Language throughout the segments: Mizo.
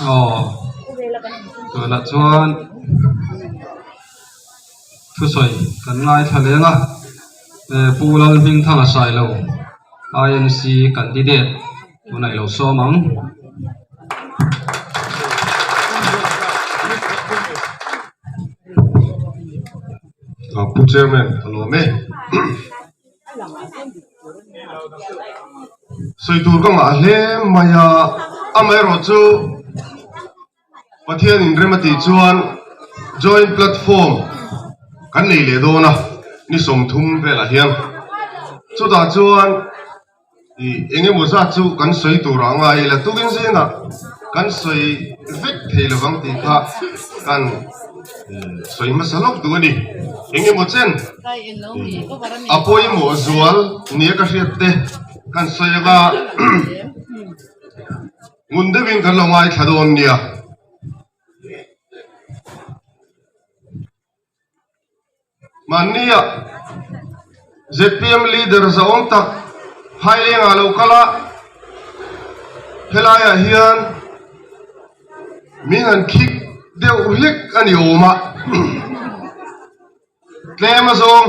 aw tunah chuan thusawi kan ngaithla leng a hee pu lalhmingthanga sailo inc candidate tunah i lo sawm ang pu chairman a lawm e. sawi tur ka ngah hle mai a, amaherawh chu Pathian in rem atih chuan joint platform kan nei leh dawn a ni sawm thum velah hian chutah chuan I eng emaw zat chu kan sawi turah a ngai ila tukin zînah kan sawi vek thei lovang tih kha kan sawi hmasa lawk duh a ni. Eng emaw chen a pawimawh zual nia ka hriat te kan sawi anga ngun deuhin kan lo ngaithla dawn nia. Mahniah ZPM leader zaawm tak Hmailengah lo kal a, helaiah hian min han khik deuh hlik a ni awm a, tlem azawng.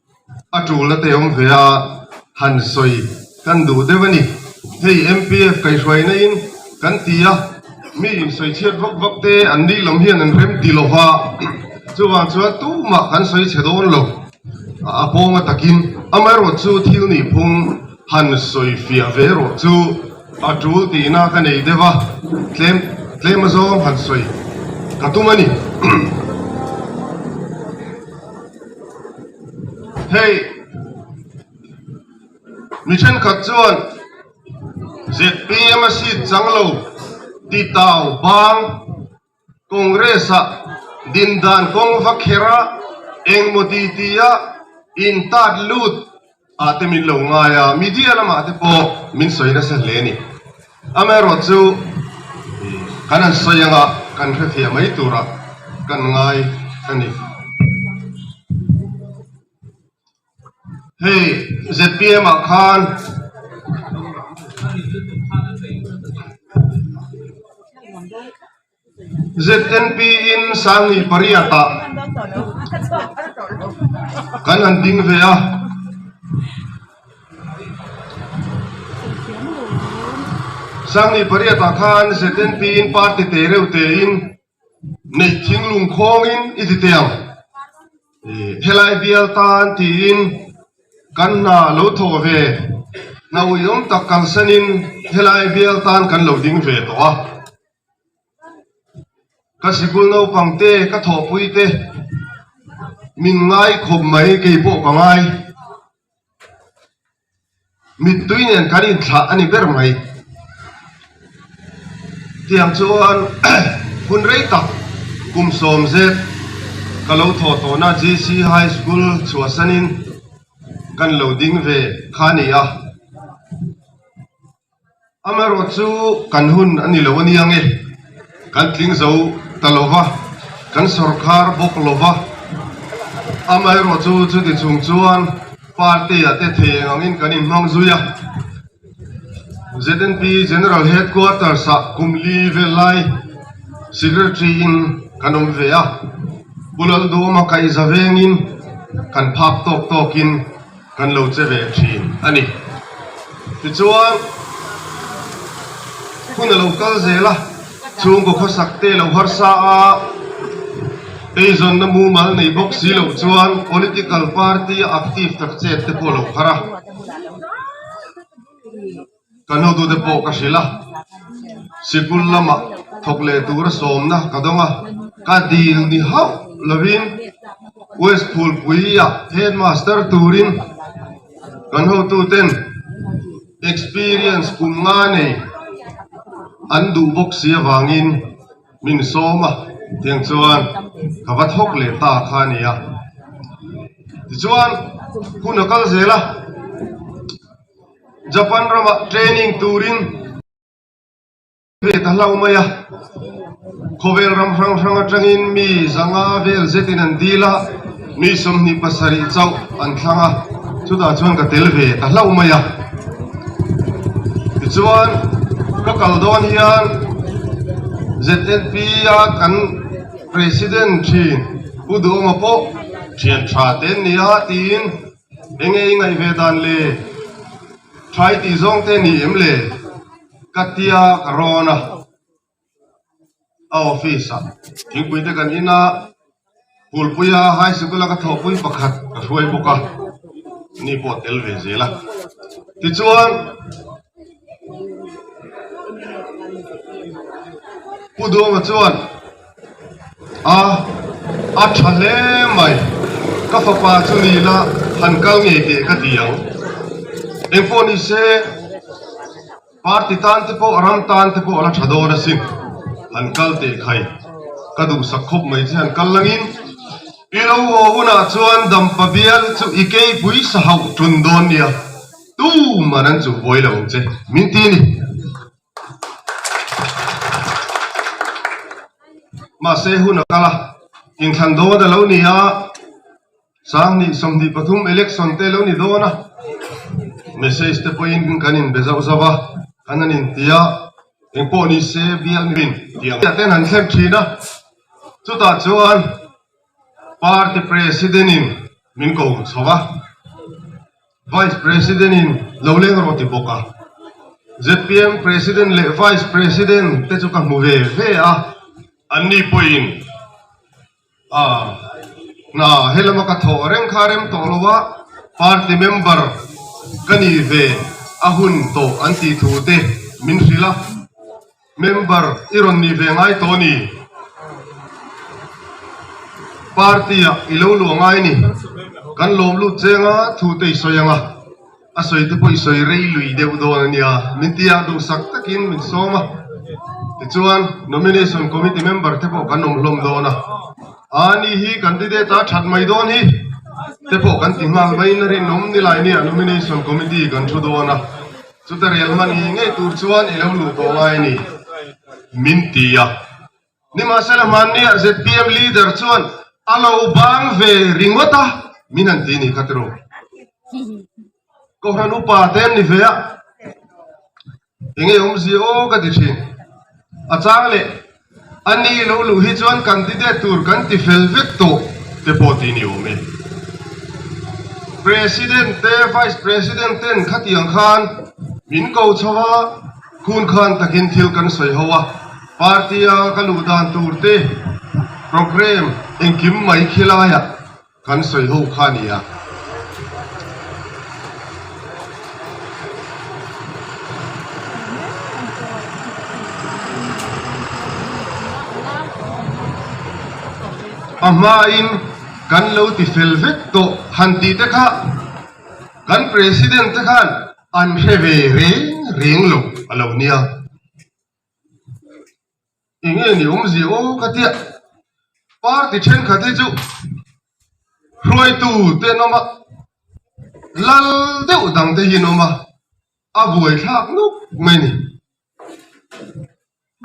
A tul la tei awm ve a, han sawi kan duh deuh a ni. Hei MPF kaihruaina in kan ti a, mi insawi chhiat vak vak te an dil awm hian an rem ti lova, chuvang chuan tumah kan sawi chhe dawn lo. A pawnga takin amaherawhchu chu thil nihphung han sawi fiah ve rawh chu a tul tihna ka nei deuh a, tlem tlem azawng han sawi ka tum a ni. Hei mi thenkhat chuan ZPM a seat chang lo ti tau bang Congress-a dindan kawng va kher a, engmaw titi a intat lut Ah te min lo ngai a, media lamah te pawh min sawi nasa hle ni. Amaherawhte chu kan han sawi anga kan hrethiah mai tura kan ngai a ni. Hei zpm ah khan ZNP in sanghnih pariat ah kan han ding ve a. Sanghnih pariat ah khan ZNP in party tehreuh tein neih thinglung khawng in i ti teh ang. Helai bial tan tiin kan hna lo thawh ve. Hna uiawm tak kalsan in helai bial tan kan lo ding ve tawh a. Ka sikul naupang te, ka thawhpui te min ngai khawp mai, kei pawh ka ngai. Mittui nen kan inthlah a ni ber mai. Tiang chuan hun rei tak kum sawm zet ka lo thaw tawhna GC High School chhuahsan in kan lo ding ve kha a ni a. Amaherawhchu chu kan hun a ni lo ania nge, kan tling zo ta lo va, kan sawrkar bawk lo va. Amaherawhchu chuti chung chuan party-a te theng angin kan inhmang zui a. ZNP General Headquarters-ah kum li vel lai Secretary-in kan awm ve a, Pu Lal Dawma kaihza vengin kan phak tawk tawkin Kan lo che ve thin a ni. Tichuan, hun a lo kal zel a, chhungkaw khawsak te lo harsa a, eizawnna mumal nei bawk si loh chuan political party-a active tak chet te pawh a lo har a. Ka nutute pawh ka hrilh a, sikul lamah thawk leh tura sawmna ka dawng a. Ka dil ni hauh lovin West Phulpuia Headmaster turin kan hotuten experience kum nga nei an duh bawk si avangin min sawm a, tiang chuan ka va thawk leh ta kha nia. Tichuan hun a kal zel a. Japan ramah training turin an ve ta hlau mai a, khawvel ram hrang hrang atangin mi zanga vel zetin an dil a, mi sawmhnih pasarih chauh an thlang a, chutah chuan ka tel ve ta hlau mai a, tichuan ka kal dawn hian ZNP a kan President thin Pu Duhawma pawh thiantha te an ni a tiin Enge i ngaih ve dan le? Ṭhai tih zawng te ni em le? Ka tia ka rawn a, a office ah thingpui te kan in a, Phulpui a high sikul a ka thawhpui pakhat ka hruai bawk a, ni pawh a tel ve zel a. Tichuan. Pu Duanga chuan a a tha hle mai, ka fapa chu ni ila han kal ngei teh ka ti ang, eng pawh ni se party tan te pawh ram tan te pawh ala tha dawn asin han kal teh khai, ka duhsak khawp mai che han kal angin i lo haw hunah chuan Dampabial chu i keipui sahauh ṭun dawn nia. Tum a nan chuh buai lo che min ti a ni. Mahse hun a kal a, inthlan dawn a lo ni a, sanghnih sawmhnih pathum election te a lo ni dawn a, message te pawhin kan inbe zauh zauh a, kan han inti a, eng pawh ni se bial ni rin tih ang te an han thlep thin a, chutah chuan party president in min ko chho a. Vice President-in lo leng rawh ti bawk a, ZPM President leh Vice President te chu ka hmu ve ve a, anni pawhin ah hna helama ka thawh reng kha rem tawh lo a, Party Member ka nih ve a hun tawh an tih thu te min hrilh a. Member i rawn ni ve ngai tawh a ni. Party ah i lo luah ngai a ni. Kan lawm lut cheng a, thu te i sawi ang a, a sawi te pawh i sawi rei lui deuh dawn a nia. Min ti a, duhsak takin min sawm a. Tichuan, Nomination Committee member te pawh kan awm hlawm dawn a. Aa ni hi candidate a that mai dawn hi te pawh kan ti nghal mai. Na rinawm ni lai nia Nomination Committee kan thu dawn a. Chuta rel hman hi ngei tur chuan i lo luh tawh ngai ni? Min ti a. Nimahsela hmanniah zpm leader chuan a lo bang ve ringawt a, min han ti ni kha tiro. Kohhran upa te an ni ve a, engei awmzia aw ka ti thin. A chang leh. A ni lo luh hi chuan candidate tur kan ti fel vek tawh te pawh ti ni awm e. President te Vice President ten khatiang khan min ko chho a, khun khan takin thil kan sawi ho a, party a ka luh dan tur te, programme engkim mai khi laiah Kan sawi ho kha a nia. A hmain kan lo ti fel vek tawh han tih te kha kan President te khan an hre ve reng reng lo a lo nia. Eng nge ni awmzia aw ka tia party thenkhat hi chu hruaitu te an awm a lal deuh dang te hi an awm a a buai thlak nawk mai ni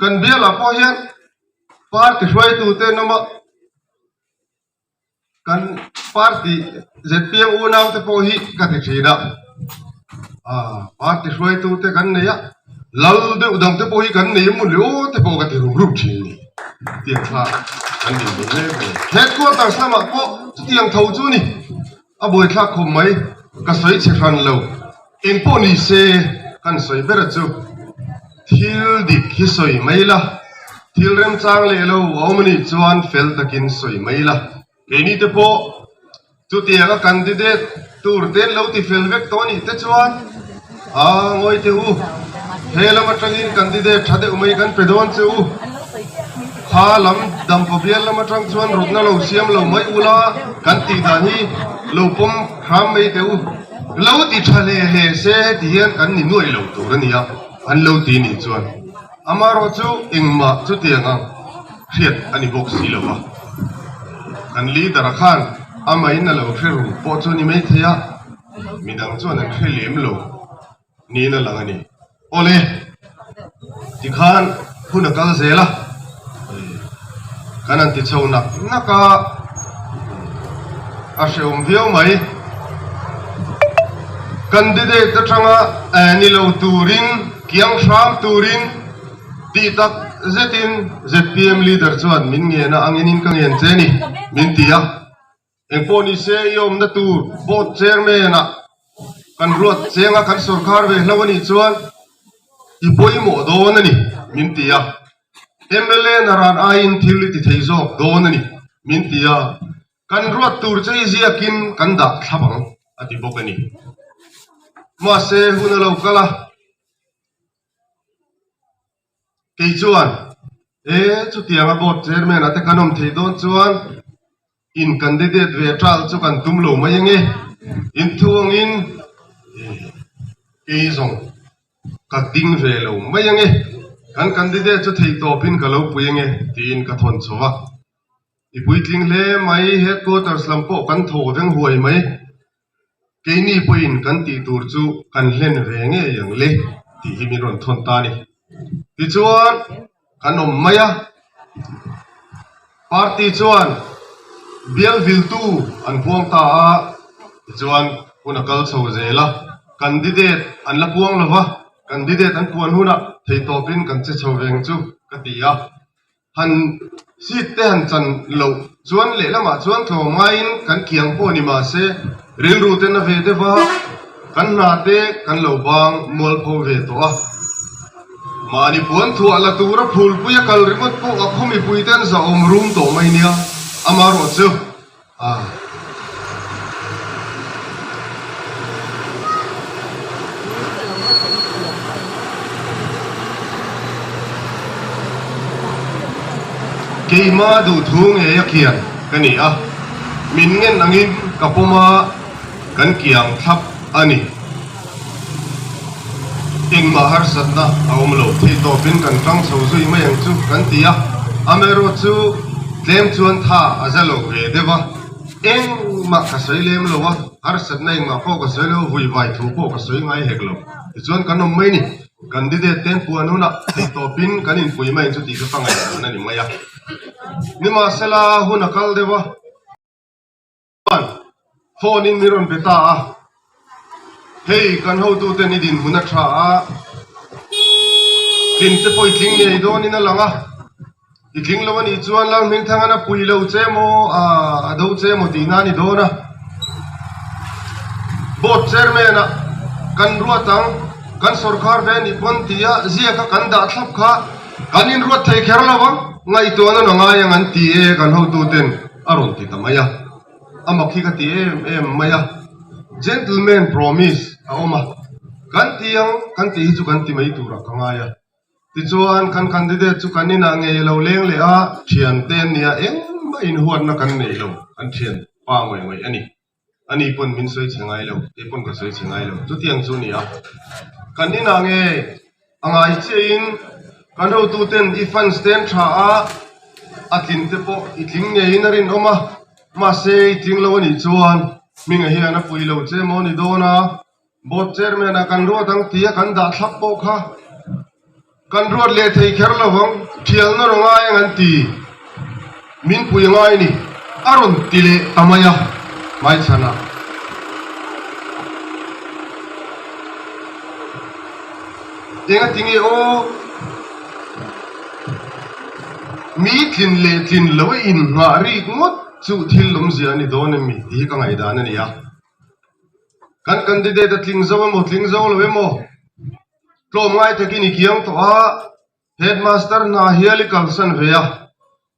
kan bialah pawh hian party hruaitu te an awm a. Kan party zpu nau te pawh hi ka ti thin a, party hruaitu te kan nei a, lal deuh dang te pawh hi kan nei emaw ni aw te pawh ka ti ruk ruk thin a ni. Tiang tha kan nei hle mai a. Headquarters lamah pawh chutiang tho chu a ni. A bawithlak khawp mai, ka sawi chhe hran lo. Eng pawh ni se, kan sawi ber a chu. Thil dik hi sawi mai la, thil remchang leh lo a awm a nih chuan fel takin sawi mai la. Keini te pawh chutianga candidate tur ten lo ti fel vek tawh a nih te chuan. Aa ngawi teh u, he lam atangin candidate tha deuh mai kan pe dawn che u. Kha lam dam paw bial lam atang chuan rutna lo siam lo mai u la, kan tih dan hi lo pawm hram mai teh u. Lo ti tha hle hle se heti hian kan ni nuaih lo tur a nia, an lo ti nih chuan. Amarawh chu engmah chutiang ang hriat a ni bawk si lo a. Kan leader-a khan amain a lo hre ru pawh chu ni maithei a. midang chuan an hre lem lo niin a lang a ni. Awle, tikhan hun a kal zel a, kan an ti chho nak nak a, a hrehawm viau mai. Candidate atanga ni lo turin, kiang hram turin tih tak zetin zpm leader chuan min ngen a, a ngenin ka ngen che a ni min ti a. Engpawh ni se i awmna tur Board Chairman ah kan ruat cheng a, kan sorkar ve hlo anih chuan i pawimawh dawn a ni min ti a. Mla na ran aiin thil i ti thei zawk dawn a ni min ti a, kan ruat tur che i ziak in kan dah thlap ang a ti bawk a ni. Mahse hun a lo kal a. Kei chuan, E, chutiang a board chairman-a te kan awm thei dawn chuan in candidate ve tal chu kan tum lo mai enge? In thu angin, E, kei zawng ka ding ve lo mai ange, kan candidate chu thei tawpin ka lo pui ange, tiin ka thawn chho a. I puitling hle mai, headquarters lam pawh kan thaw veng huai mai. Keini pawhin kan tih tur chu kan hlen ve ngei ang le tih hi min rawn thawn ta a ni. Tichuan, kan awm mai a, party chuan bialviltu an puang ta a, tichuan hun a kal chho zel a, candidate an la puang lo va, candidate an puan hunah thei tawpin kan che chho veng chu ka ti a, Han hit te han chan loh chuan lehlamah chuan thlawh ngaiin kan kiang pawh ni mah se rilru ten a ve deuh va, kan hna te kan lo bang mual pho ve tawh a. Mahni puan thuah la tura phulpuia kal ringawt pawh a khawmipui te an zahawm rum tawh mai nia, amaherawhchu. Keima duhthu ngei a kian ka ni a, min ngen angin ka pawma kan kiang thlap a ni. Engmah harsatna a awm lo, thei tawpin kan ṭang chho zui mai ang chu kan ti a. Amerawt chu tlem chuan tha a za lo ve deuh a, Engmah ka sawi lem lo a, harsatna engmah pawh ka sawi lo, vuivai thu pawh ka sawi ngai hek lo. Tichuan kan awm mai a ni. Candidate ten puan hunah thei tawpin kan inpui mai ang chu tihte pangngai dan a ni mai a. Nimahsela hun a kal deuh a. Chuan phone in ni rawn pe ta a, hei kan hotu ten i din hun a tha a, tling te pawh i tling ngei dawn in a lang a, i tling lo a nih chuan Lalhming Thangan a pui lo che maw a a do che maw tihna a ni dawn a, Board Chairman ah kan ruat ang, kan sorkar ve a nih pawn tih a ziak a kan dah thlap kha. Kan inruat thei kher lo a, ngaihtuah na na ngai ang an ti e kan hotuten a rawn ti ta mai a. A mak hi ka ti em em mai a, gentleman promise a awm a, kan ti ang kan tih hi chu kan ti mai turah ka ngai a. Tichuan kan candidate chu kan inah ngei lo leng leh a, thiante nia engmah inhuatna kan nei lo an thian pa ngawih ngawih a ni. Ani pawn min sawi chhe ngai lo, kei pawn ka sawi chhe ngai lo. Chutiang chu ni a. Kan inah nge a ngai chiahin kan hotu ten i fans ten tha a, a tlin te pawh i tling ngeiin a rinawm a. Mahse i tling lo a nih chuan minga hian a pui lo che maw ni dawn a. Board Chairman a kan ruat ang tia kan dah thlap pawh kha kan ruat leh thei kher lo vang, thial na raw ngai ang an ti. Min pui ngai ni a rawn ti leh ta mai a, hmaichhana. Engati nge aw? Mi tlin leh tlin lo in nghah rik ngawt chu thil awmzia a ni dawn em mi? Tih hi ka ngaihdan a ni a. Kan candidate a tling zo emaw tling zo lo emaw tlawm ngai takin i kiang tawh a, headmaster hna hial i kalsan ve a,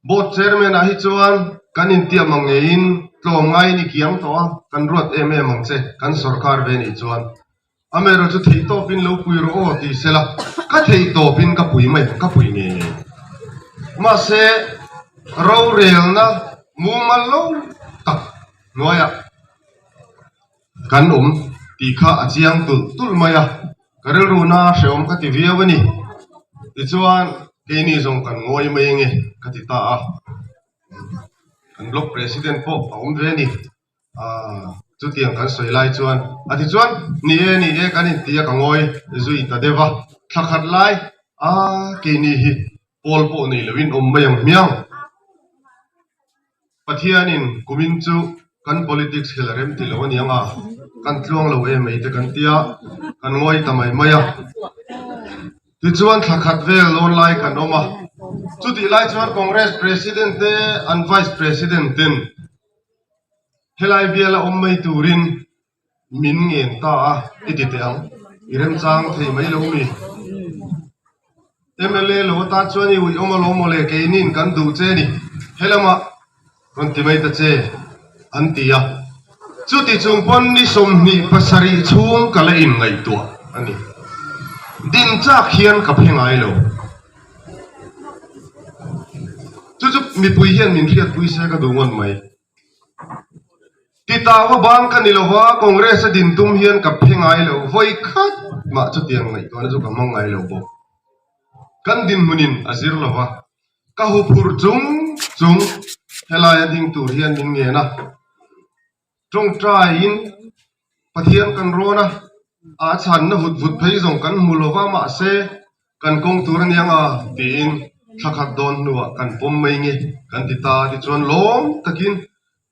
board chairman ah hi chuan kan intiam ang ngeiin tlawm ngaiin i kiang tawh a, kan ruat em em ang che kan sorkar ve nih chuan. Am erawh chu theih tawpin lo pui rawh aw tih sela, ka theih tawpin ka pui mai, ka pui ngei ngei. Mahse, rorelna mumal lo tak hnuaiah kan awm tih kha a chiang tulh tulh mai a, ka rilruna hrehawm ka ti viau a ni. Tichuan, keini zawng kan ngawi mai enge ka ti ta a, kan block president pawh a awm ve a ni. Chutiang kan sawi lai chuan a ti chuan, Ni e, ni e kan inti a ka ngawi zui ta deuh a, thla khat lai a keini hi Paul pawh nei lo in awm mai ang hmiang. Pathian in kum in chu kan politics hi la rem ti lo a niang a, kan tluang lo em mai te kan ti a, kan ngawi ta mai mai a. Tichuan thla khat vel dawn lai kan awm a, chutih lai chuan Congress President te an Vice President ten, Helai biala awm mai turin min ngen ta a i ti teh ang, i remchang thei mai lo mi. MLA lo ata chuan i uih awm a lo maw le, kei niin kan duh che a ni, helamah rawn ti mai ta che an ti a. Chuti chung pawn ni sawmhnih pasarih chhung ka la inngaihtuah a ni. Din chak hian ka phe ngai lo. Chu chu mipui hian min hriatpui se ka duh ngawt mai. Ti ta va bang ka ni lo va, Congress a din tum hian ka phe ngai lo vawi khat mah chutiang ngaihtuahna chu ka hmang ngai lo bawk. Kan dinhmunin a zir lo va, ka hu phur chung chung he laia ding tur hian min ngen a. Tawngtain Pathian kan rawn a, a chhanna hut vut phei zawng kan hmu lo va, mahse kan kawng tur a niang a tiin thla khat dawn hnuah kan pawm mai nge kan ti ta a, tichuan lawm takin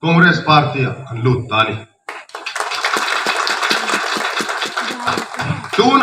Congress Party ah kan lut ta a ni. Tunah.